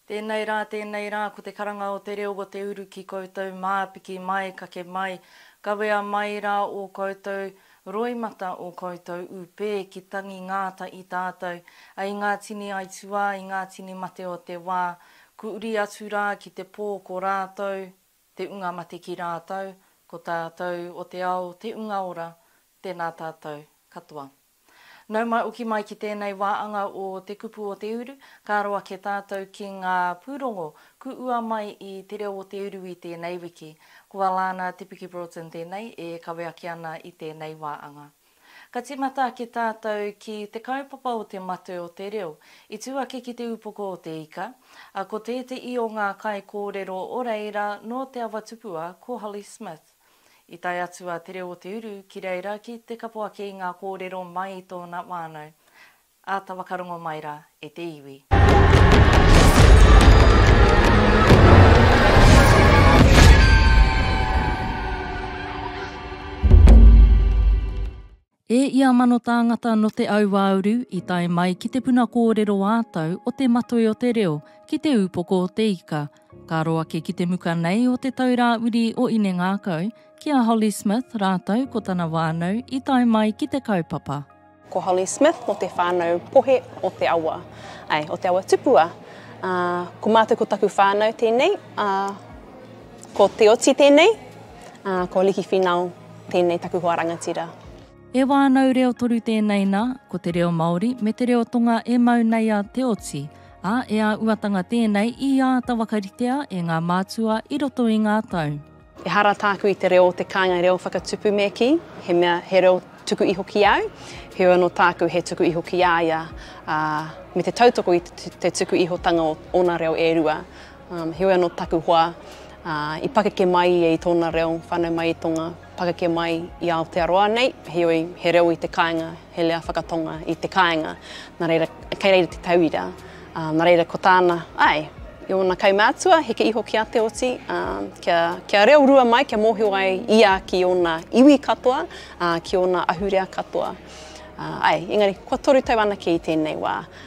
Tēnei rā, tēnei rā, ko te karanga o te reo o te uru ki koutou, mā, piki mai, kake mai, kawea mai rā ō koutou roimata, ō koutou ūpē, ki tangi ngāta i tātou, a i ngā tini aituā, i ngā tini mate o te wā, ku uri atu rā ki te pō ko rātou, Te unga mate ki rātou, ko tātou o te ao te unga ora, tēnā tātou katoa. Nau mai oki mai ki tēnei wā anga o Te Kupu o Te Uru, ka aro ake tātou ki ngā pūrongo kuua mai i Te Reo o Te Uru i tēnei wiki. Ko Alana Te Piki Broughton tēnei e kawe ake ana i tēnei wā anga. Ka tīmata ake tātou ki te kaupapa o te matū o te reo. I tū ake ki te upoko o te ika, ā, ko tēteī o ngā kaikōrero o reira nō Te Awa Tupua ko Holly Smith. I tae atu a Te Reo o Te Uru ki reira ki te kapo ake i ngā kōrero mai i tōna whānau. Āta whakarongo mai rā e te iwi. E ia mano tāngata nō te auāuru i tae mai ki te puna kōrero ā-tau o Te Matoi o te Reo ki Te Ūpoko o te Ika, ka aro ake ki te muka nei o Te Taurāwiri o Inengākau, ki a Holly Smith rātou ko tana whānau i tae mai ki te kaupapa. Ko Holly Smith mo te whanau pohe o te awa, ae, o te awa tupua. A, ko matou ko taku whanau tenei, a, ko Te Oti tenei, a, ko Liki Finau tenei taku hoa rangatira. He wānau reo toru tēnei nā, ko te reo Māori me te reo Tonga e mau nei a Te Oti, ā, e āuatanga tēnei i āta wakaritea e ngā mātua i roto i ngā tau. Ehara tāku i te reo o te kāinga reo whakatupu me kī, he mea, he reo tuku iho ki au, heoi anō tāku he tuku iho ki a ia, ā, me te tautoko i te tuku ihotanga o ōna reo e rua, ā, heoi anō taku hoa, ā, i pakeke mai ia i tōna reo whānau mai i Tonga, pakeke mai i Aotearoa nei, heoi he reo i te kāinga. he reo whakatonga i te kāinga, nā reira, kei reira te tauira, ā, nā reira ko tāna, āe, i ōna kaumātua, heke iho ki a Te Oti, ā, kia, kia reo rua mai, kia mōhio ai ia ki ōna iwi katoa, ā, ki ōna ahurea katoa. Ā, āe, engari, kua toru tau anake i tēnei wā,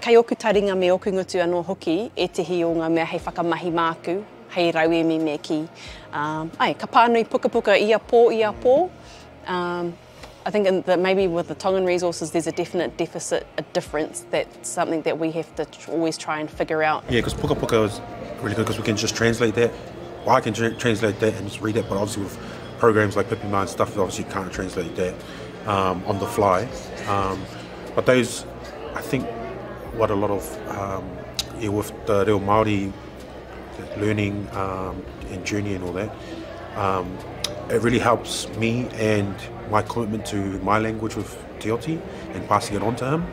Kei oku taringa me oku ngutu anō hoki ētehi o ngā mea hei whakamahi māku, hei rauemi me kī. Ae, ka pānui pukapuka ia pō, ia pō. I think that maybe with the Tongan resources there's a definite deficit, a difference that's something that we have to always try and figure out. Yeah, because pukapuka is really good because we can just translate that. Well, I can translate that and just read it, but obviously with programs like Pipima and stuff, obviously you can't translate that on the fly. But those, I think, what a lot of, um, yeah, with the reo Māori learning um, and journey and all that, um, it really helps me and my commitment to my language with Te Oti and passing it on to him.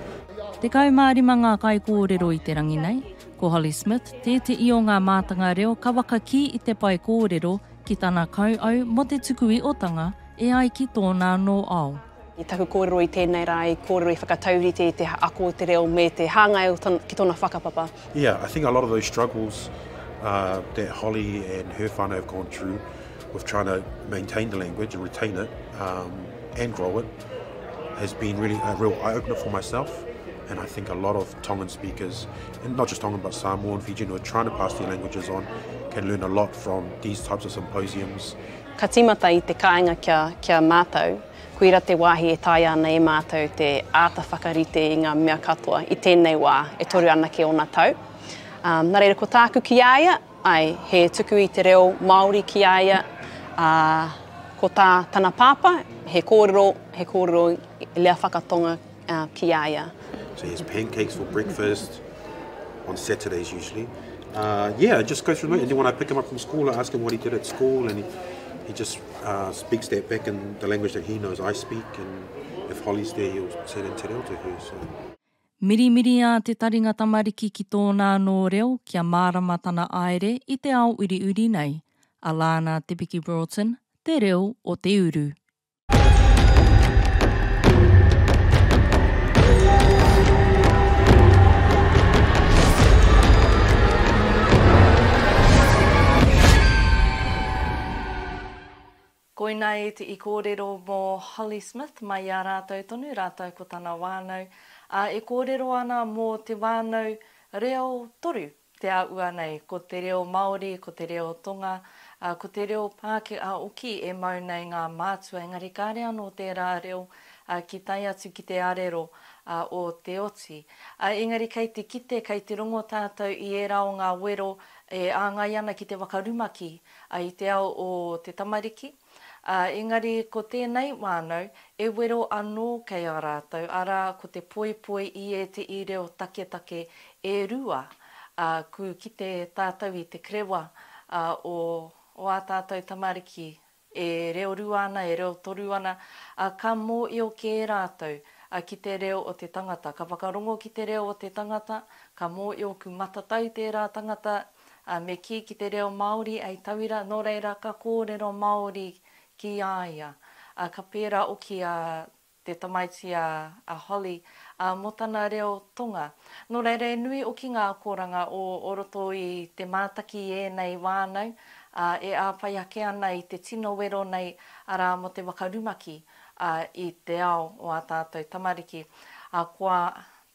Te kau mā rima ngā kai kōrero i te rangi nei. Ko Holly Smith, tēti i o ngā mātanga reo ka wakakī i te pai kōrero ki tana kau au mō te tuku i otanga e ai ki tōna anō ao. I taku kōrero i tēnei rā i kōrero i whakataurite i te ako o te reo me te hāngai o ton, ki tona whakapapa. Yeah, I think a lot of those struggles uh, that Holly and her whānau have gone through with trying to maintain the language and retain it um, and grow it has been really a real eye opener for myself. And I think a lot of Tongan speakers, and not just Tongan but Samoan, Fijian, who are trying to pass their languages on, can learn a lot from these types of symposiums Ka tīmata i te kāinga kia, kia mātou, koira te wāhi e taea ana e mātou te āta whakarite i ngā mea katoa i tēnei wā e toru anake ōna tau. Ā, nā reira ko tāku ki a ia, āe, he tuku i te reo Māori ki a ia, ā, ko tā tana pāpā, he kōrero, he kōrero i Lea Whakatonga, ki a ia. So he has pancakes for breakfast on Saturdays usually. Uh, yeah, I just go through it. And then when I pick him up from school, I ask him what he did at school, and he, he just uh, speaks that back in the language that he knows I speak. And if Holly's there, he'll say it in Te Reo to her. So. Mirimiriā te taringa tamariki ki tōna anō reo kia mārama tana aere i te ao uriuri nei. A Lana Te Piki Broughton, Te Reo o Te Uru. Koinā eti i kōrero mō Holly Smith mai i a rātou tonu, rātou ko tana wānau, ā, e kōrero ana mō te wānau reo toru Te āhua nei, ko te reo Māori, ko te reo Tonga, ā, ko te reo Pākehā hoki e mau nei ngā mātua, engari kāre anō tērā reo ki tae atu ki te arero o te oti. Ā, engari kei te kite, kei te rongo tātou i ērā o ngā wero e āngai ana ki te whakarumaki i te ao o te tamariki, Ā, engari ko tēnei whānau, e wero anō kei a rātou, arā, ko te poipoi i ēteī reo taketake e rua, ā, kū kite tātou i te kerewa, ā, o, o ā tātou tamariki e reo rua ana, e reo toru ana, ā, ka mōio kē rātou, ā, ki te reo o te tangata. Ka whakarongo ki te reo o te tangata, ka mōio ku matatau tērā tangata ā, me kī ki te reo Māori hei tauira, nō reira ka kōrero Māori ki a ia. Ā, ka pērā hoki a te tamaiti a Holly, ā, mō tana reo Tonga. Nō reira he nui hoki ngā akoranga o roto i te mātaki i ēnei whānau, ā, e āwhai ake ana i te tino wero nei, arā, mō te waka rumaki, ā, i te ao o ā tātou tamariki. Ā, kua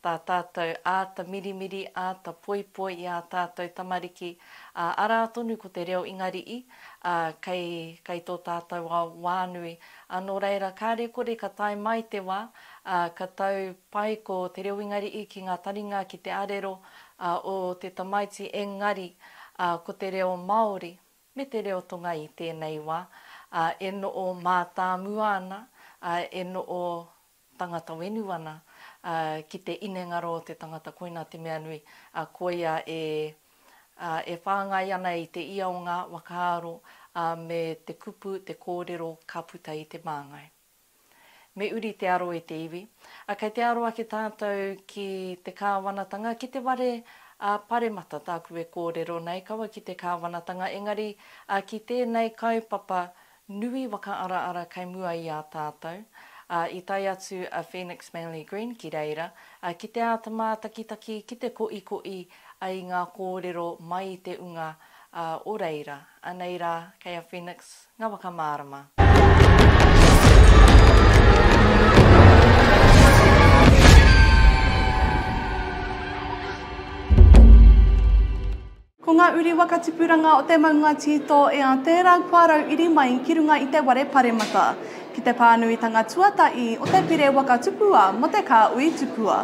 tā tātou āta mirimiri, āta poipoi i ā tātou tamariki, ā, arā tonu ko te reo Ingari'i, ā, kei, kei tō tātou ao whānui. Ā, nō reira, kāre kore ka tae mai te wā, ā, ka tau pai ko te reo Ingari'i ki ngā taringa ki te arero, ā, o te tamaiti engari, ā, ko te reo Māori me te reo Tonga i tēnei wā, ā, e noʻo mātāmua ana, ā, e noʻo tangata wenu ana, ā, ki te inengaro o te tangata koinā te mea nui, ā, koia e, ā, e whāngai ana i te ia o ngā whakaaro, ā, me te kupu, te kōrero ka puta i te māngai. Me uri te aro i te iwi. Ā, kei te aro ake tātou ki te Kāwanatanga, ki te ware, ā, paremata tāku e kōrero nei, kaua ki te Kāwanatanga, engari, ā, ki tēnei kaupapa nui whakaaraara kei mua i a tātou, ā, i tae atu a Phoenix Manly Green ki reira, ā, ki te āta mātakitaki, ki te koʻikoʻi i ngā kōrero mai i te unga, ā, o reira, anei rā, kei a Phoenix ngā whakamārama. Ko ngā uri waka tipuranga o te maunga tito e a tērā kua rau iri mai ki runga i te ware paremata, ki te pānuitanga tuataī o te pire waka tupua mō te kāui tupua.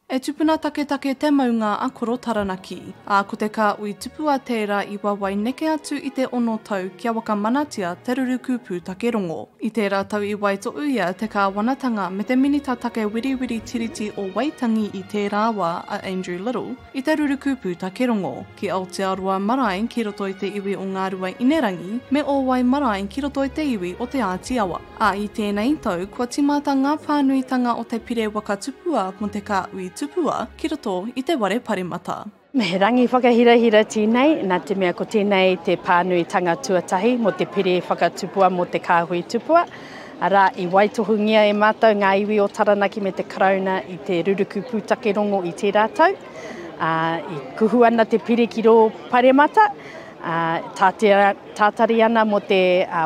E tupuna taketake te maunga a Koro Taranaki, ā, ko te kāui tupua tērā i wawae neke atu i te ono tau kia wakamanatia te ruruku pūtake rongo. I tērā tau i waitoʻu ia te kāwanatanga me te Minita Take Wiriwiri Tiriti o Waitangi i tērā wā, a Andrew Little, I te rurukupu takerongo, ki Aotearoa marae ki roto i te iwi o Ngāruainerangi, me Ōwai marae ki roto i te iwi o Te Āti Awa. Ā, i tēnei tau, kua timata ngā pānuitanga o te pire waka tupua mō te kāhui tupua ki roto i te ware paremata. Me he rangi whakahirahira tēnei, nā te mea ko tēnei te pānuitanga tuatahi mō te pire whakatupua mō te kāhui tupua. arā, i waitohungia e mātou ngā iwi o Taranaki me te Karauna i te ruruku pūtake rongo i tērā tau, ā, i kuhu ana te pire ki rō paremata, ā, tātea, tātari ana mō te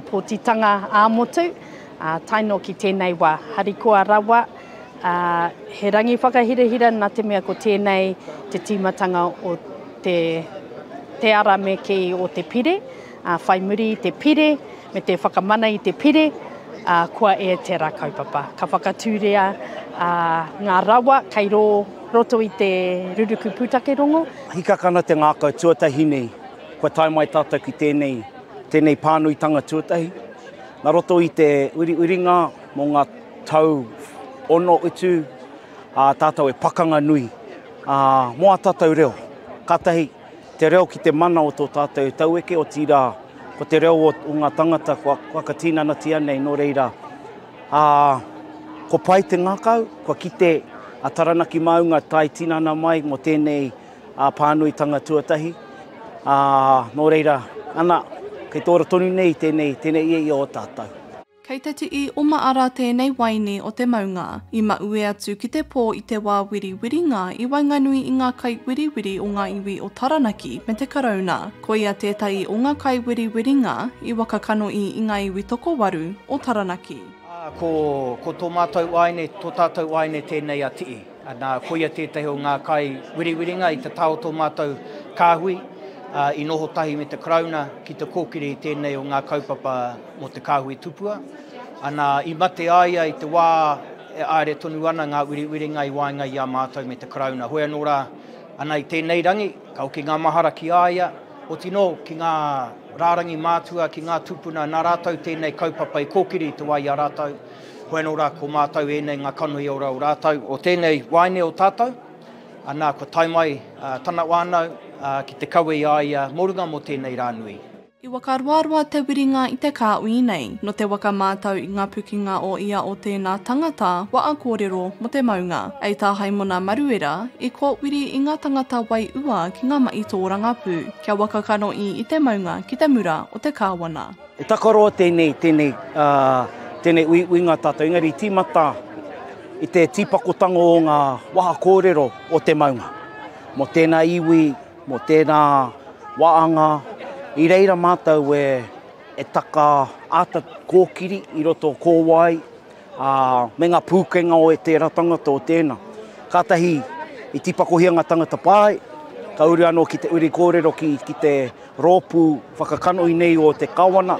pōtitanga ā-motu, ā, tae noa ki tēnei wā, harikoa rawa, ā, he rangi whakahirahira nā te mea ko tēnei te tīmatanga o te, te ara me kī o te pire. Ā, whai muri i te pire, me te whakamana i te pire, ā, kua e tera kaupapa. Ka whakatūria ā, ngā rawa kei rō roto i te ruruku pūtake rongo. Hikaka ana te ngākau tuatahi nei kua tae mai tātou ki tēnei, tēnei pānuitanga tuatahi. Na roto i te uriuringa mō ngā tau ono utu, ā, tātou e pakanga nui, ā, mō ā tātou reo. Kātahi. Te reo ki te mana o tō tātou taueke, otirā, ko te reo o ngā tangata kua whakatinanatia nei, nō reira, ā, ko pai te ngākau, kua kite a Taranaki Māunga tae tinana mai mō tēnei pānuitanga tuatahi, ā, nō reira, ana, kei tōra tonu nei tēnei, tēnei ia i ō tātou. Kei te tii oma ara teenei waini o te maunga, i maue atu ki te poo i te waa wiriwiringa i waenganui i ngaa kaiwiriwiri o ngaa iwi o Taranaki me te Karauna. Koia teetahi o ngaa kaiwiriwiringa i wakakanohi i ngaa iwi tokowaru o Taranaki. Aa, ko, ko to maatou aine, to taatou aine teenei a Tii. Nā, koia tētahi o ngā kai wiriwiringa i tatā o tō mātou kāhui i noho tahi me te Karauna ki te kōkiri i tēnei o ngā kaupapa mō te kāhui tupua. Nā, i mate a ia i te wā e āere tonu ana ngā wiriwiringa i waenga i a mātou me te Karauna. Hoi anō rā, ana i tēnei rangi, ka hoki ngā mahara ki a ia, oti nō ki ngā rārangi mātua, ki ngā tūpuna, nā rātou tēnei kaupapa i kōkiri i te wā i a rātou. Hoi anō rā, ko mātou ēnei ngā kanohi ora o rātou, o tēnei waeine o tātou, nā, kua tae mai tana whānau ki te kawe i a ia mō runga mō tēnei rā nui. I whakaroaroa te wiringa i te kāuī nei, nō te waka mātau i ngā pukinga o ia o tēnā tangata waa kōrero mō te maunga, ei tā Haimona Maruera, i kōwiri i ngā tangata wai ua ki ngā mahi tōrangapū, kia waka kanoī i te maunga ki te mura o te kāwana. He takaroa tēnei, tēnei, tēnei uiuinga tātou, engari tīmata i te tīpakotanga o ngā waha kōrero o te maunga. Mō tēnā iwi, mō tēnā waanga, i reira mātou e, e taka āta kōkiri i roto kōwae, ā, me ngā pūkenga o tērā tangata o tēnā. Kātahi i tīpakohia ngā tangata pae, ka uru anō ki te uri kōrero ki, ki te rōpū whakakanohi nei o te Kawana,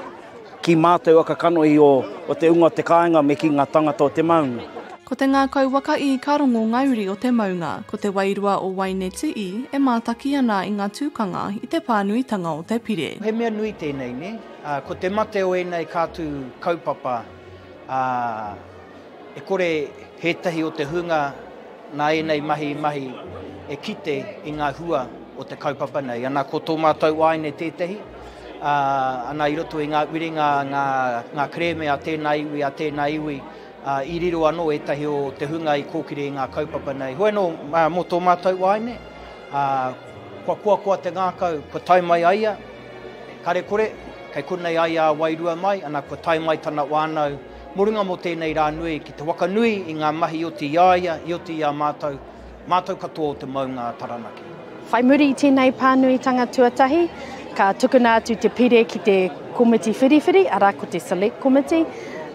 ki mātou aka kanohi o, o te Unga o te Kāinga me ki ngā tangata o te maunga. Ko te ngākau waka ī ka rongo ngā uri o te maunga. Ko te wairua o Waineti ī e mātaki ana i ngā tūkanga i te pānuitanga o te pire. He mea nui tēnei, nē? Ā, ko te mate o ēnei kātū kaupapa, ā, e kore ētahi o te hunga nā ēnei mahi i mahi e kite i ngā hua o te kaupapa nei. Ana, ko tō mātou āine tētahi, ā, ana, i roto i ngā whiringa, ngā, ngā kerēme a tēnā iwi, a tēnā iwi, ā, i riro anō ētahi o te hunga i kōkiri i ngā kaupapa nei. Hoi anō, mō tō mātou āine, ā, kua koakoa te ngākau kua tae mai a ia, Kare kore, kei konei ai a Wairua mai, ana kua tae mai tana wānau mō runga mō tēnei rā nui ki te waka nui i ngā mahi i oti i a ia, i oti i a mātou, mātou katoa o te maunga a Taranaki. Whai muri i tēnei pānuitanga tuatahi, ka tukuna atu te pire ki te komiti whiriwhiri, arā ko te Select Committee,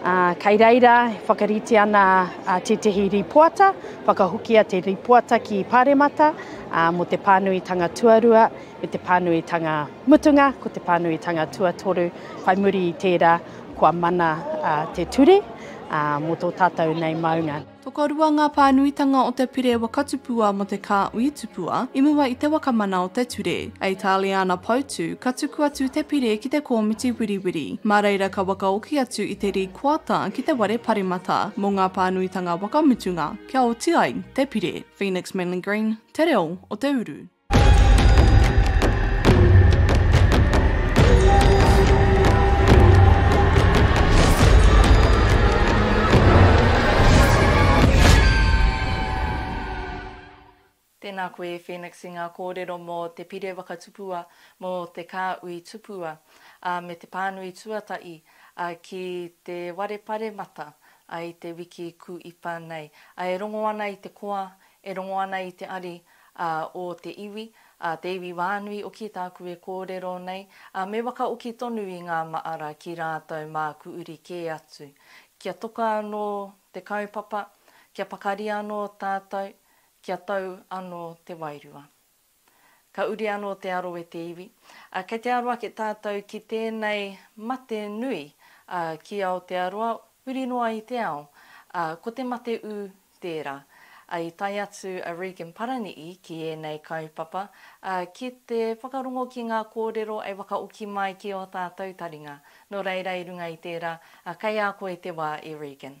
ā, kei reira e whakarite ana tētehi rīpoata, whakahokia te rīpoata ki Pāremata mō te pānuitanga tuarua, I te pānuitanga mutunga, ko te pānuitanga tuatoru, whai muri i tērā, kua mana te ture mō tō tātou nei maunga. Tokorua ngā pānuitanga o te pire waka tupua mō te kāhui tupua i mua i te waka mana o te ture. A Itāliana Poutu, ka tuku atu te pire ki te kōmiti wiriwiri, mā reira ka wakaoki atu i te rīkoata ki te ware paremata mō ngā pānuitanga waka mutunga kia oti ai te pire. Phoenix Manley Green, Te Reo o te Uru. Tēnā koe e Phoenix i ngā kōrero mō te Pire Wakatupua, mō te Kāhui Tupua, ā, me te pānui tuatahi, ā, ki Te Ware Paremata, ā, i te wiki kūipa nei. Ā, e rongo ana i te koa, E rongo ana i te ari o te iwi, te iwi wānui oki tāku e kōrero nei, me wakaoki tonu i ngā maara ki rātou māku uri kē atu. Kia toka anō te kaupapa, kia pakari anō tātou, kia tau anō te wairua. Ka uri anō te aro e te iwi. Ā, kei te aro ake tātou ki tēnei mate nui, ā, ki Aotearoa, huri noa i te ao, ā, ko te mate ū tērā. Ā, i tae atu a Regan Parani'i ki ēnei kaupapa, ā, ki te whakarongo ki ngā kōrero e whakaoki mai ki ō tātou taringa. Nō reira, i runga i tērā, ā, kei a koe te wā e Regan.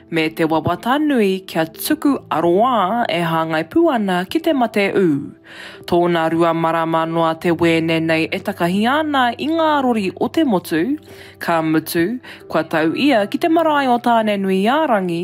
me te wawata nui kia tuku aroā e hāngai pū ana ki te mate ū. Tōna rua marama noa te wēne nei e takahia ana i ngā rori o te motu, ka mutu, kua tau ia ki te marae o Tānenuiārangi,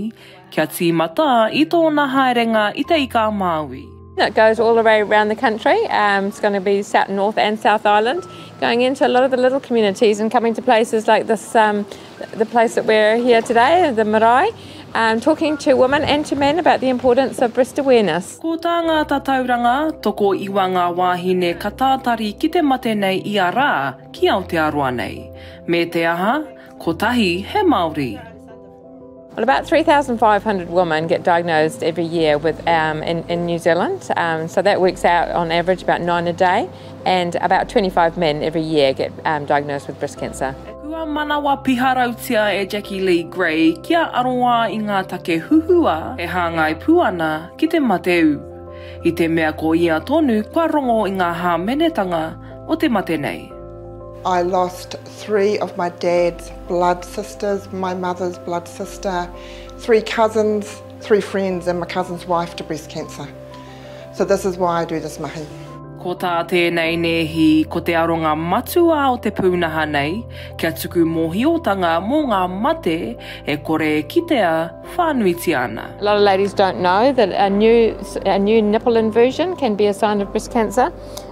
kia tīmata i tōna haerenga i Te Ika-a-Māui. It goes all the way around the country. Um, it's going to be south, North and South Island, going into a lot of the little communities and coming to places like this, um, the place that we're here today, the marae, um, talking to women and to men about the importance of breast awareness. Ko tā ngā tatauranga, toko iwa ngā wāhine ka tātari ki te mate nei i a rā ki Aotearoa nei. Me te aha, kotahi he Māori. Well, about 3,500 women get diagnosed every year with um, in, in New Zealand. Um, so that works out on average about nine a day, and about 25 men every year get um, diagnosed with breast cancer. Kua manawa piharautia e Jackie Lee Gray kia aroā i ngā take huhua e hāngai pū ana ki te mateu. I te mea ko ia tonu kua rongo i ngā hāmenetanga o te mate nei. I lost three of my dad's blood sisters, my mother's blood sister, three cousins, three friends and my cousin's wife to breast cancer. So this is why I do this mahi. Ko tā tēnei nēhi ko te aronga matua o te pūnaha nei kia tuku mōhiotanga mō ngā mate e kore e kitea whānuitia ana. A lot of ladies don't know that a new, a new nipple inversion can be a sign of breast cancer.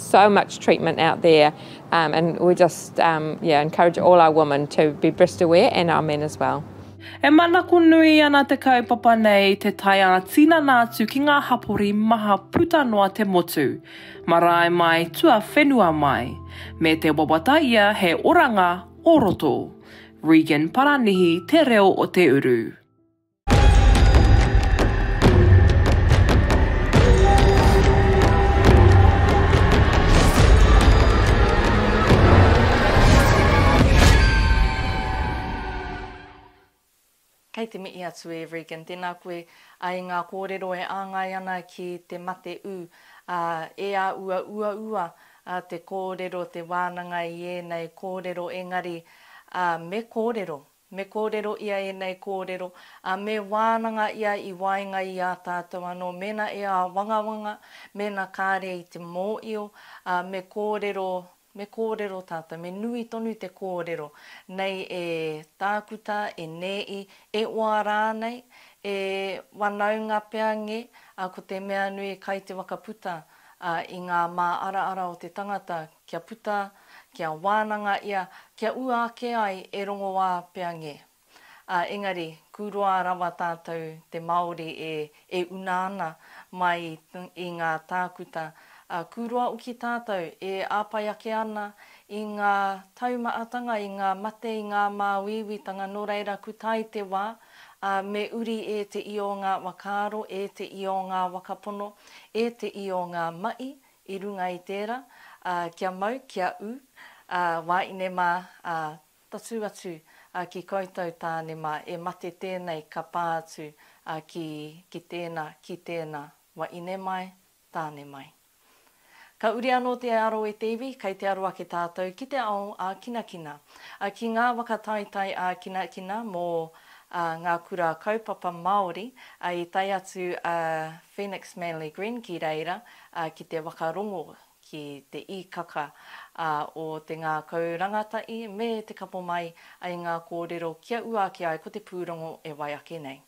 so much treatment out there um, and we just um, yeah encourage all our women to be breast aware and our men as well. E manako nui ana te kaupapa nei te tae ā tinana atu ki ngā hapori maha puta noa te motu, marae mai, tua whenua mai, me te wawata ia he oranga o roto. Regan Paranihi, Te Reo o Te Uru. Kei te mihi atu e Regan, tēnā koe i ngā kōrero e āngai ana ki te mate ū, ā, e āua uaua te kōrero, te wānanga i ēnei kōrero, engari me kōrero Me kōrero ia ēnei kōrero, ā, me wānanga ia i waenga i ā tātou anō, mēnā e āwangawanga, mēnā kāre i te mōio, ā, me kōrero, me kōrero tātou, me nui tonu te kōrero nei e Tākuta, e Nēi, e Oa rānei, e Wanaunga pea ngē, ā, ko te mea nui kai te wakaputa, ā, i ngā māaraara o te tangata, Kia puta, kia wānanga ia, kia ua ake ai e rongoā pea nge. A engari, kūroa rawa tātou te Māori e e una ana mai i ngā tākuta, a kūroa uki tātou e āpai ake ana i ngā taumaatanga, i ngā mate, i ngā māuiuitanga, nō reira ku tae te wā, a me uri e te io ngā wakaaro, e te io ngā wakapono, e te io ngā mahi, I runga i tēra, ā, kia mau, kia ū, ā, wāine mā, ā, tatū atu, ā, ki koutou tāne mā, e mate tēnei ka pā atu, ā, ki, ki tēna, ki tēna, wāine mai, tāne mai. Ka uri anō te aro e te iwi, kei te aro ake tātou ki te ao ā-kinakina, ā, ki ngā waka taetae ā-kinakina mō, ā, ngā kura kaupapa Māori, ā, i tae atu, ā, Phoenix Manly Green ki reira ki te whakarongo ki te īkaka o te ngākau rangatahi me te kapo mai i ngā kōrero kia ua ake ai ko te pūrongo e wai ake nei.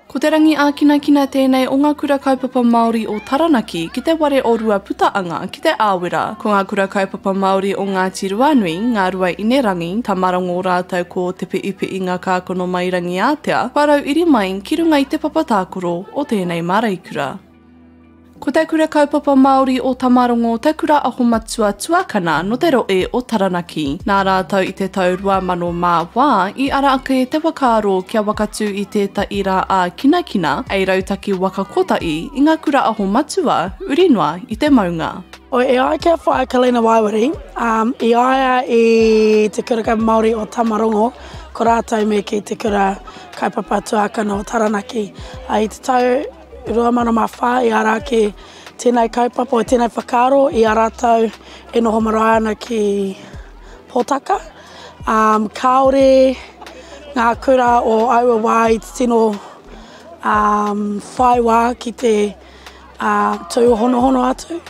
Ko Te Rangi Ākinakina tēnei o ngā Kura Kaupapa Māori o Taranaki ki te ware o Ruaputaanga ki Te Aowera. Ko ngā Kura Kaupapa Māori o Ngāti Ruanui, Ngāruai Inerangi, Tamarangō rātou ko Te Piʻipiʻi Ngā Kākono Mai Rangiātea, whārau iri mai ki runga i te papa tākoro o tēnei māreikura. Ko Te Kura Kaupapa Māori o Tamarongo te kura ahomatua tuakana nō te rohe o Taranaki. Nā rātou i te tau 2000 mā wā i ara ake te whakaaro kia wakatū i tētahi rā ā-kinakina hei rautaki waka kotahi i ngā kura ahomatua uri noa i te maunga. E ai ki a Whaea Kalina Waewarie, i a ia i Te Kura Kaupapa Māori o Tamarongo, ko rātou me kī te kura kaupapa tuakana o Taranaki. I te tau 2004 i ara ake tenei kaupapa, tenei whakaaro i a ratou e noho marae ana ki Potaka. Um, kaore nga kura o aua wa i tino um, whai wa ki te uh, tūhonohono atu.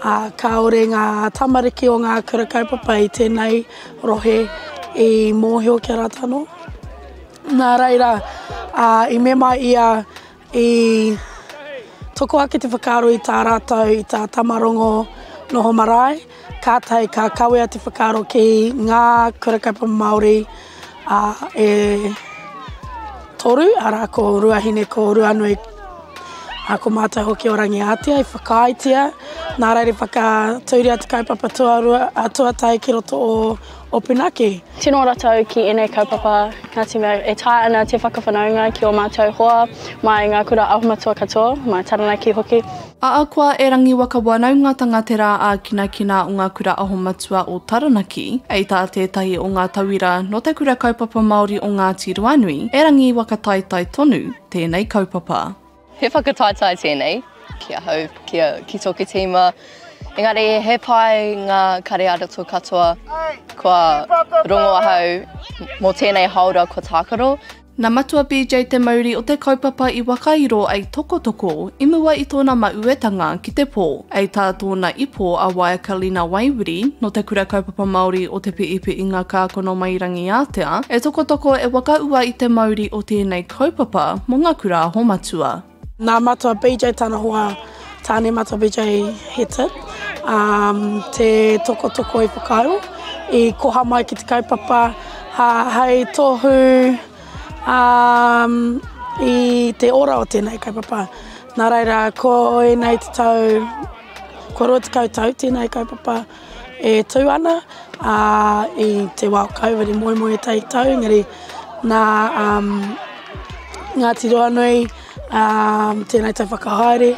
Uh, kaore nga tamariki o nga kura kaupapa i tenei rohe i mohio ki a ratou no. Nā reira, uh, i mema ia I toko ake te whakaaro i tā rātou, i tā Tamarongo noho marae, kātahi ka kawea te whakaaro ki ngā kura kaupapa Māori e toru, arā, ko Ruahine, ko Ruanui, ā, ko mātou hoki o Rangiātea i whakaaetia, nā reira i whakatūria te kaupapa tuatahi ki roto o Open ake! Tino ora tau ki enei kaupapa Ngati mea e taea ana te whakawhanaunga ki o matou hoa mai nga kura ahomatua katoa, mai Taranaki hoki. Ahakoa e rangiwaka wanaungatanga te rā ākinakina o ngā Kura Ahomatua o Taranaki, hei tā tētahi o ngā tauira nō te Kura Kaupapa Māori o Ngāti Ruanui, he rangiwaka taetae tonu tēnei kaupapa. He whakataetae tēnei ki ahau, ki, a, ki tōku tīma. Engari, he pai ngā kare arato katoa kua rongo ahau mō tēnei haora kua tākaro. Nā Matua BJ te mauri o te kaupapa i whakairo ai Tokotoko i mua i tōna mauetanga ki te pō. Hei tā tōna ipo a Waekalina Waiwiri nō te Kura Kaupapa Māori o Te Piipiinga Kākonowhairangiātea, e Tokotoko e wakaua i te mauri o tēnei Kaupapa mo nga kura aho matua. Nā Matua PJ tana hoa, Tāne Matua PJ he tit, um, te tokotoko i whakaaro, i koha mai ki te kaupapa ha, hei tohu um, i te ora o tēnei kaupapa. Nā reira, ko ēnei te tau, ko 20 tau tēnei kaupapa. e tū ana i te wā o Covid i moemoeā tātou engari nā Ngāti Ruanui tēnei tau whakahaere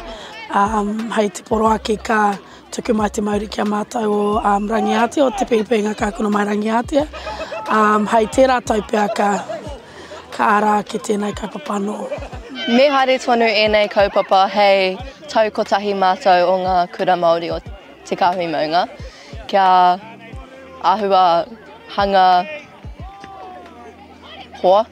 hei te poro ake ka tuku mai te mauri ki a mātou o Rangiātea, o Te Pēwhenga ka kura mai Rangiātea hei tērā tau pea ka ara ake tēnei kaupapa anō. Me haere tonu ēnei kaupapa hei tau kotahi mātou o ngā kura Māori o. te kāhui maunga, kia āhua hanga hoa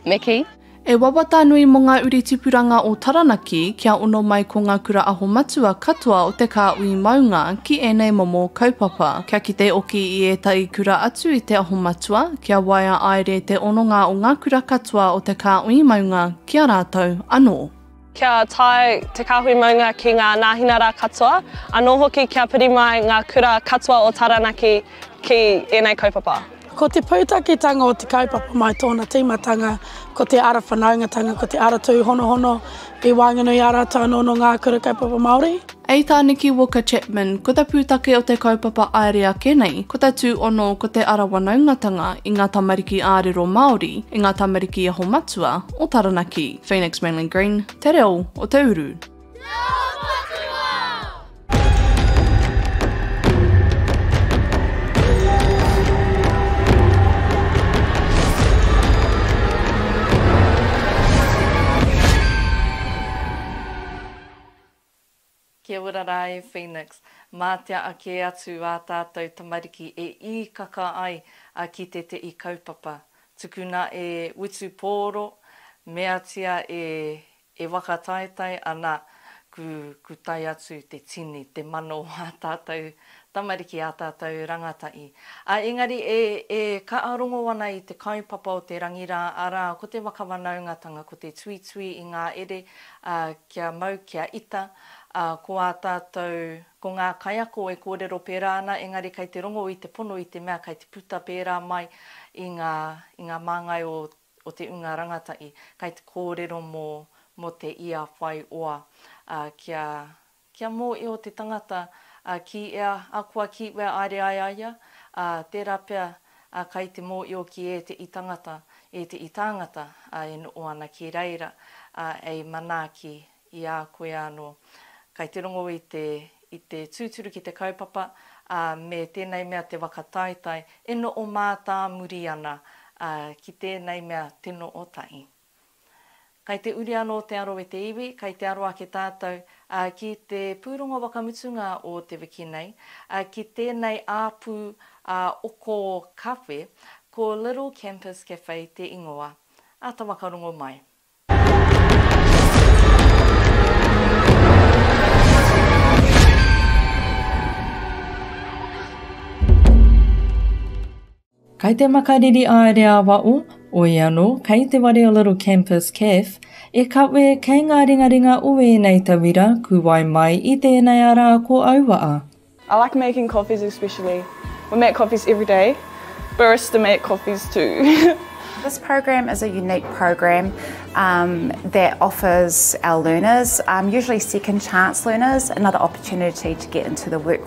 me kī. E wawata nui mō ngā uri tipuranga o Taranaki kia ono mai ko ngā kura aho matua katoa o te kāhui maunga ki ēnei momo kaupapa. Kia kite oki i ētahi kura atu i te aho matua, kia waea aere te ononga o ngā kura katoa o te kāhui maunga ki a rātou anō. kia tae te kāhui maunga ki ngā nāhinara katoa, anō hoki kia piri mai ngā kura katoa o Taranaki ki ēnei kaupapa. Ko te pūtaketanga o te kaupapa mai tōna tīmatanga ko te ara whanaungatanga, ko te ara tūhonohono i waenganui i a rātou anō nō ngā kura kaupapa Māori. Ei tā Nikki Walker Chapman, ko ta pūtake o te kaupapa aere ake nei, ko ta tūono ko te ara wanaungatanga i ngā tamariki ārero Māori, i ngā tamariki aho matua o Taranaki. Phoenix Mainland Green, te reo o te uru. Kia ora rā e Phoenix. Mā te aa kē atu ā tātou tamariki e īkaka ai a ki te te i kaupapa. Tukuna e utu pōro, meatia e e wakataetae ana ku ku tae atu te tini, te mano o ā tātou tamariki, ā tātou rangatahi. Ā, engari e e kaarongo ana i te kaupapa o te rangi rā, arā, ko te wakawanaungatanga, ko te tuitui i ngā ere, ā, kia mau, kia ita, ā, ko ā tātou, ko ngā kaiako e kōrero pērā ana, engari kei te rongo i te pono i te mea kei te puta pērā mai i ngā, i ngā māngai o, o te ūnga rangatahi, kei te kōrero mō, mō te ia whai oa, ā, kia, kia mōhio te tangata, ā, ki ea, a kua ki wea aere ai a ia, ā, tērā pea a kai te mōio ki e te i tangata, e te i tāngata, a e noo ana ki reira, a ei manaaki i a koe anō. Kai te rongo i te i te tūturu ki te kaupapa, a me tēnei mea te waka taetae e noo mātāmuri ana, a ki tēnei mea te noo tahi. Kai te uri anō te aro e te iwi, kai te aro ake tātou, ā, ki te pūrongo wakamutunga o te wiki nei, ā, ki tēnei āpū ā-oko kawhe, ko Little Campus Cafe te ingoa. Āta whakarongo mai. Kai te makariri aere a Waʻo, oi anō, kai te ware o Little Campus Caf, e kawe, kei ngā ringaringa o ēnei tauira, kuwai mai i tēnei ara ko Auaa. I like making coffees especially we make coffees everyday barista make coffees too. This program is a unique program that offers our learners, usually second chance learners, another opportunity to get into the work.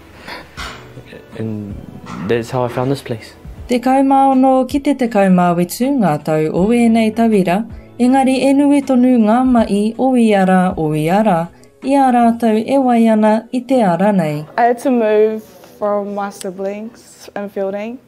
And that's how I found this place. Tekau mā ono ki te tekau mā whitu ngā tau o ēnei tauira, engari e nui tonu ngā maʻi o ia rā, o ia rā, i a rātou e wai ana i te ara nei. I had to move from my siblings in Feilding.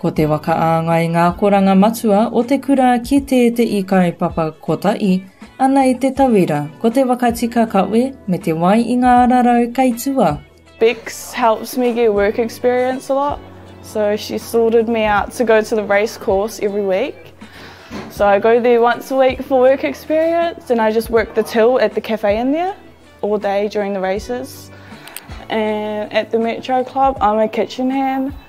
Ko te whakaāngai ngā akoranga matua o te kura ki tēteʻi kaupapa kotaʻi, ana i te tauira, ko te whakatika kawe me te wai i ngā ararau kei tua. Bex helps me get work experience a lot, so she sorted me out to go to the race course every week. So I go there once a week for work experience and I just work the till at the cafe in there all day during the races. And at the Metro Club I'm a kitchen hand.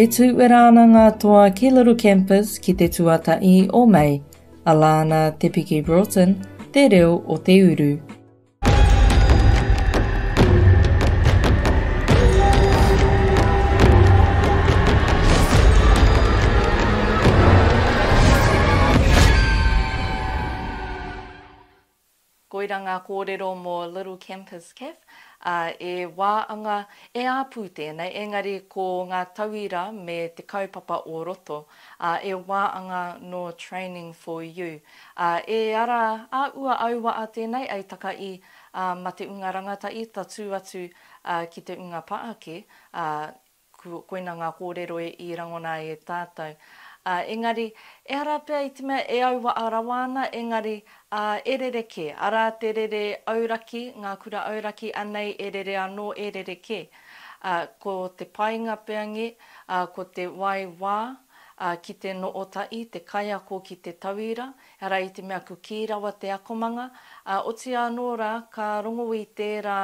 E tū uera ana ngā toa ki Little Campus ki te tuatahi o Mei, a Lana Te Piki Broughton, Te Reo o te Uru. Koira ngā kōrero mō Little Campus Caff, ā, e wā anga, e āpū tēnei, engari ko ngā tauira me te kaupapa o roto, ā, e wā anga nō Training for You. Ā, e ara a Ua Auwaa tēnei, ei taka i, ā, ma te unga rangatahi tatū atu, ā, ki te unga paake, ā, Koina ngā kōrero i rangona ai e tātou. Ā, engari, ehara pea i te mea e auaha rawa ana, engari, ā, e rerekē, arā te rere auraki, ngā kura auraki, anei e rere anō, e rerekē. Ā, ko te painga pea ngē, ā, ko te wai wā, ā, ki te noho tahi te kaiako ki te tauira, ehara i te mea kukī rawa te akomanga, ā, otiia anō rā, ka rongo i tērā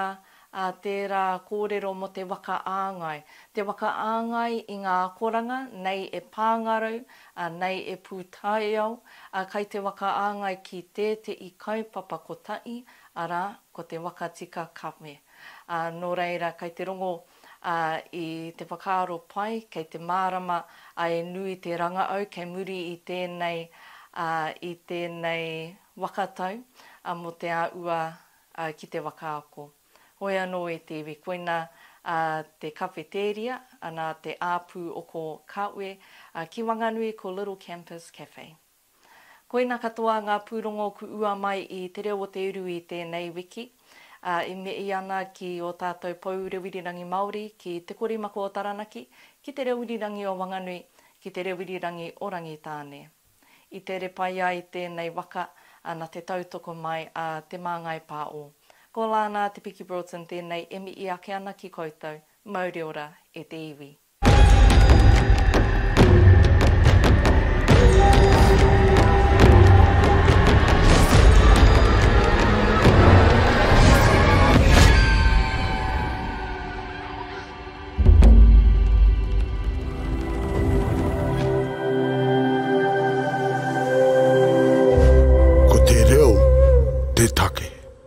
a tērā kōrero mō te waka āngai, te waka āngai i ngā akoranga, nei e Pāngarau, a, nei e Pūtaiao, a, kai te waka āngai ki tēteʻi kaupapa kotaʻi, arā, ko te waka tika kame. A, nō reira, kai te rongo, a, i te whakaaro pai, kei te mārama, a, e nui te rangaau kei muri i tēnei, a, i tēnei waka tau, a, mō te āua, ā, ki te whakaako. Hoi anō e te iwi, koina ā te kawhetēria, anā te āpū o ko Kawe, ā, ki Wanganui ko Little Campus Cafe. Koina katoa ngā pūrongo ku ua mai i Te Reo o te Uru i tēnei wiki, ā, e mihi ana ki ō tātou pou reo irirangi Māori, ki Te Korimako o Taranaki, ki Te Reo Irirangi o Wanganui, ki Te Reo Irirangi o Rangitāne. I tere pai ai tēnei waka na te tautoko mai a Te Māngai Pā O. Ko Lānā Te Piki Broughton tēnei e mihi ake ana ki koutou. Mauri ora e te iwi. Ko te reo te take.